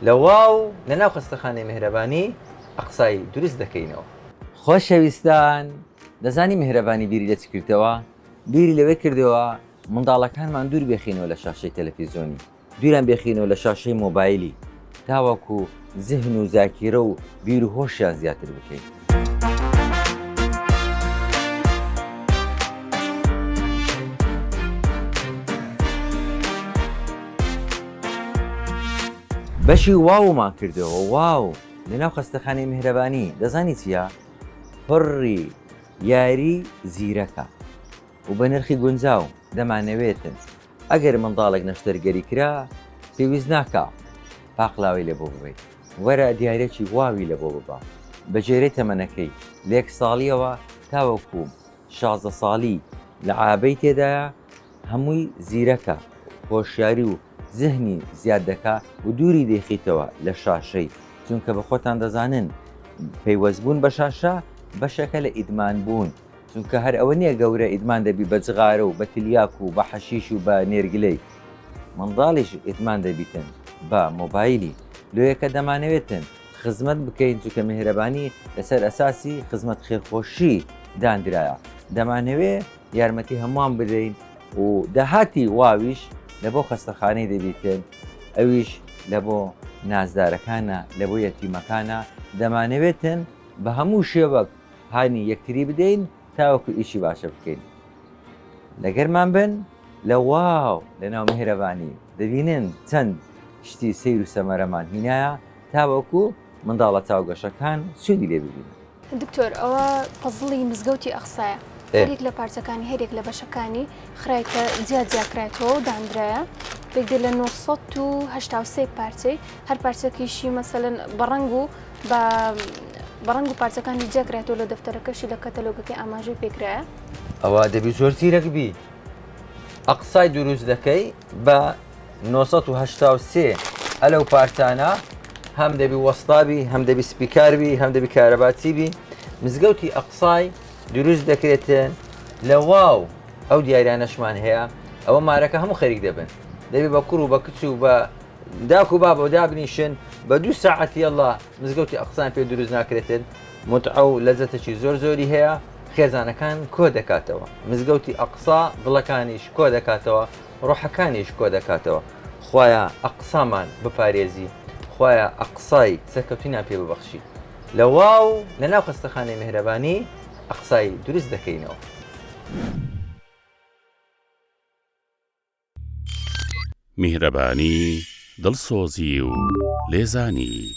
لە واو لە ناو خەستەخانەی مێهرەبانی ئەقسای دروست دەکەینەوە. خۆشەویستان دەزانی مێهرەبانی بیری لە چ کردەوە؟ بیری لەوەی کردەوە منداڵەکانمان دوور بێخینەوە لە شاشەی تەلەفیزۆنی، دووریان بێخینەوە لە شاشەی مۆبایلی تاوەکو زهن و زاکیرە و بیر و هۆشیان زیاتر بکەین. بەشی واومان کردەوە واو لەناو خەستەخانەی میهرەبانی دەزانی چییە؟ پڕی یاری زیرەکە و بە نرخی گونجاو دەمانەوێتن ئەگەر منداڵێک نەشتەرگەری کرا پێویست ناکا پاقلاوی لە بۆ ببیت وەرە دیارێکی واوی لە بۆ ببە بە جێرەی تەمەنەکەی لێک ساڵیەوە تاوەکووم شازە ساڵی لە عابەی تێدایە هەمووی زیرەکە هۆشیاری و زهنی زیاد دەکا و دووری دەیخیتەوە لە شاشەی چونکە بە خۆتان دەزانن پەیوەستبوون بە شاشە بەشەکە لە ئیدمان بوون. چونکە هەر ئەوە نیە گەورە ئیدمان دەبی بە جغارە و بە تلیاک و بە حەشیش و بە نێرگلەی منداڵیش ئیدمان دەبیتن بە مۆبایلی لۆیە کە دەمانەوێتن خزمەت بکەین چونکە مێهرەبانی لەسەر ئەساسی خزمەت خێرخۆشی داندرایە دەمانەوێ یارمەتی هەمووان بدەین و داهاتی واویش لە بۆ خەستەخانەی دەبیتن ئەویش لە بۆ نازدارەکانە لە بۆ یەتیمەکانە دەمانەوێتن بە هەموو شێوەک هانی یەکتری بدەین تاوەکو ئیشی باشە بکەین لەگەرمان بن لە واو لە ناو میهرەبانی دەبینن چەند شتی سیر و سەمەرەمان هینایە تاوەکو منداڵە چاوگەشەکان سوودی لێ ببین دکتۆر ئەوە پەزڵی مزگەوتی ئەخسایە هەرێک لە پارچەکانی هەرێک لە بەشەکانی خراکە جیا جیاکرایەوە و دانراە پێکدێ لە 1970 پارچەی هەر پارچەکیشی مەسەن بەڕنگ و با بە ڕەنگ و پارچەکانی جیا کرایەتەوە لە دەفتەرەکەشی لە کەتەلۆگەکەی ئاماژەی پێکرایە. ئەوە دەبی زۆر زیرەک بی ئەقسای دروست دەکەی بە 1970 ئەلەو پارتانە هەم دەبی وەستابی هەم دەبی سپیکاربی هەم دەبی کارەباچی بی مزگەوتی ئەقسای دروست دەکرێتێن لە واو ئەو دیارانەشمان هەیە ئەوە مارەکە هەموو خەریک دەبن دەبێ بە کوڕ و بە کچ و بە داکو بابە دابنیشن بە دوو ساعتی ئەله مزگەوتی ئەقسان پێ دروست ناکرێتن متعە و لەزەتەکی زۆر زۆری هەیە خێزانەکان کۆ دەکاتەوە مزگەوتی ئەقسا دڵەکانیش کۆ دەکاتەوە ڕۆحەکانیش کۆ دەکاتەوە خۆیان ئەقسامان بپارێزی خۆیان ئەقسای سەرکەوتنیان پێ ببەخشی لە واو لە ناو خستەخانەی میهرەبانی ئەقسای دروست دەکەینەوە. میهرەبانی، دڵسۆزی و لێزانی.